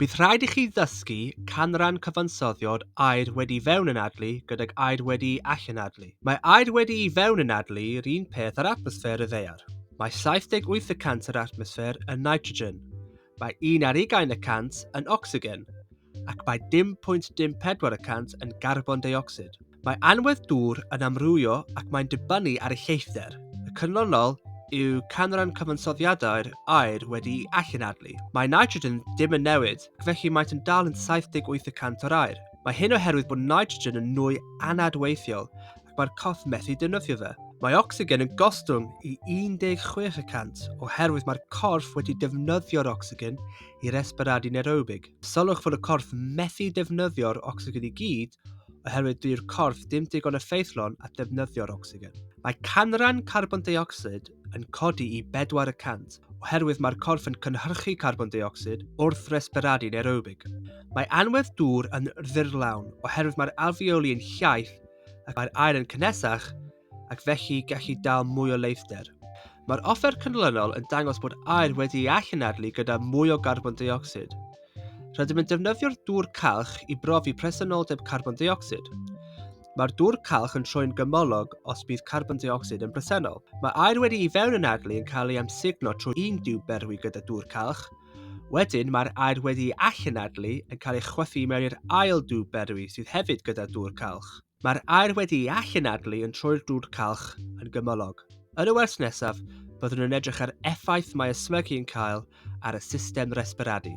Bydd rhaid i chi ddysgu canran cyfansoddiad aer wedi fewn yn adlu gydag aer wedi i allan adlu. Mae aer wedi i fewn yn adlu yr un peth ar atmosffer y ddear. Mae 78 y cant yr atmosffer yn nitrogen, mae un ar ugain y cant yn ocsigen, ac mae dim pwynt dim pedwar y cant yn garbon deuocsid. Mae anwedd dŵr yn amrywio ac mae'n dibynnu ar ei lleithder. Y canlynol yw canran cyfansoddiadau'r aer wedi'i allanadlu. Mae nitrogen ddim yn newid, ac felly maent yn dal yn 78 y cant o'r aer. Mae hyn oherwydd bod nitrogen yn nwy anadweithiol ac mae'r corff methu defnyddio fe. Mae ocsigen yn gostwng i 16 y cant oherwydd mae'r corff wedi defnyddio'r ocsigen i resbiradu nerobig. Sylwch fod y corff methu defnyddio'r ocsigen i gyd oherwydd dyw'r corff ddim digon effeithlon at ddefnyddio'r ocsigen. Mae canran carbon deuocsid yn codi i 400 oherwydd mae'r corff yn cynhyrchu carbon deuocsid wrth resberadu nerobig. Mae anwedd dŵr yn ddyrlawn oherwydd mae'r alfeoli yn llaith ac mae'r aer yn cynnesach ac felly gallu dal mwy o leithder. Mae'r offer canlynol yn dangos bod aer wedi ei allanadlu gyda mwy o garbon deuocsid. Rydym yn defnyddio'r dŵr calch i brofi presenoldeb carbon deuocsid. Mae'r dŵr calch yn troi'n gymylog os bydd carbon deuocsid yn bresennol. Mae aer wedi i fewn yn adlu yn cael ei amsugno trwy un diw berwi gyda dŵr calch. Wedyn mae'r aer wedi i allanadlu yn cael ei chwythu mewn i'r ail diw berwi sydd hefyd gyda dŵr calch. Mae'r aer wedi'i allanadlu yn troi'r dŵr calch yn gymylog. Yn y wers nesaf, byddwn yn edrych ar effaith mae ysmygu yn cael ar y system resbiradu.